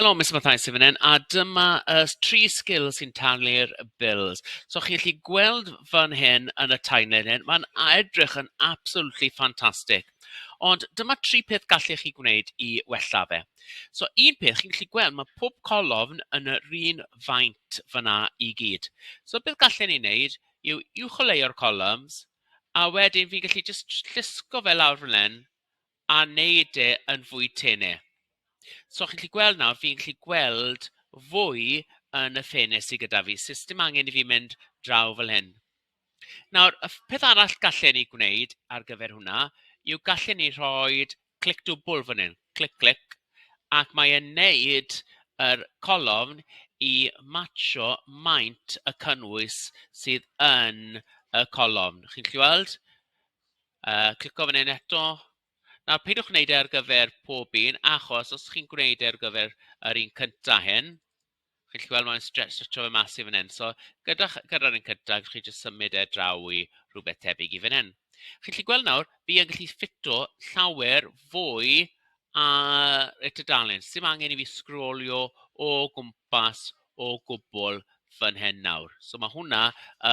Helo, Miss Mathai sy'n fan hyn, a dyma y uh, tri sgil sy'n talu'r bills. So chi'n gallu gweld fan hyn yn y timeline hyn, mae'n edrych yn absolutely fantastic. Ond dyma tri peth gallech chi gwneud i wella fe. So un peth, chi'n gallu gweld mae pob colofn yn yr un faint fyna i gyd. So beth gallen ni wneud yw uwcholeuo'r columns a wedyn fi'n gallu just llusgo fe lawr fan hyn a wneud e yn fwy tene. So chi'n gallu gweld nawr, fi'n gallu gweld fwy yn y ffenest sydd gyda fi. Sut dim angen i fi mynd draw fel hyn. Nawr, y peth arall gallen ni gwneud ar gyfer hwnna yw gallen ni rhoi clic dwbl fan hyn, clic, clic, ac mae e'n wneud yr colofn i matsio maint y cynnwys sydd yn y colofn. Chi'n gallu weld? Yy, clico fan hyn eto. Nawr, peidiwch wneud e ar gyfer pob un, achos os chi'n gwneud e ar gyfer yr un cynta hyn, Chi'n gallu gweld mae'n stre- stretsio fe mas i fan hyn. So gyda ch- gyda'r un cyntaf, gallwch chi jyst symud e draw i rhywbeth tebyg i fan hyn. Chi'n gallu gweld nawr, fi yn gallu ffito llawer fwy ar y tudalen. Sim angen i fi sgrolio o gwmpas o gwbl fan hyn nawr. So mae hwnna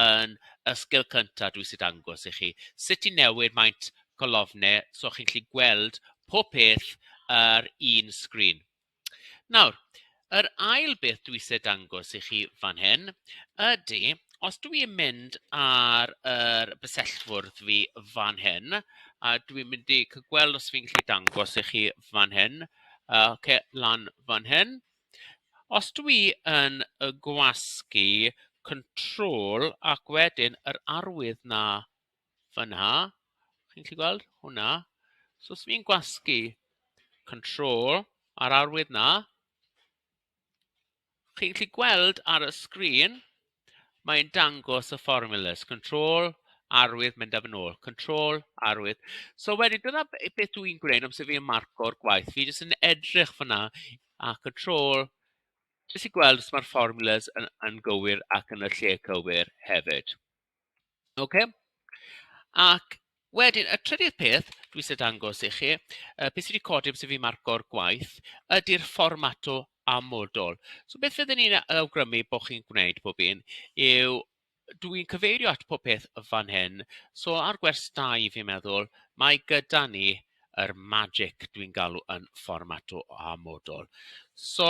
yn y sgil cyntaf dwi sydd dangos i chi. Sut i newid maint colofnau so chi'n gallu gweld pob peth ar un sgrin. Nawr, yr ail beth dwi eisiau dangos i chi fan hyn ydy, os dwi yn mynd ar yr er bysellfwrdd fi fan hyn, a dwi'n mynd i cael gweld os fi'n gallu dangos i chi fan hyn, uh, okay, lan fan hyn. Os dwi yn y gwasgu control ac wedyn yr arwydd na fan'na, chi'n gallu gweld hwnna? So os fi'n gwasgu control a'r arwydd 'na, chi'n gallu gweld ar y sgrin, mae'n dangos y formulas, control, arwydd, mynd â fe'n ôl, control, arwydd. So wedyn, dyna beth dw i'n gwneud amser fi'n marco'r gwaith. Fi jyst yn edrych fan'na a control, jyst i gweld os mae'r formulas yn yn gywir ac yn y lle cywir hefyd. Ocê? Ac wedyn, y trydydd peth dwi isie dangos i chi, yy be sy 'di codi amser i fi marco'r gwaith, ydy'r fformato amodol. So beth fydden ni'n a- awgrymu bod chi'n gwneud pob un yw, dwi'n cyfeirio at popeth fan hyn, so ar gwers dau fi'n meddwl, mae gyda ni yr magic dwi'n galw yn fformato amodol. So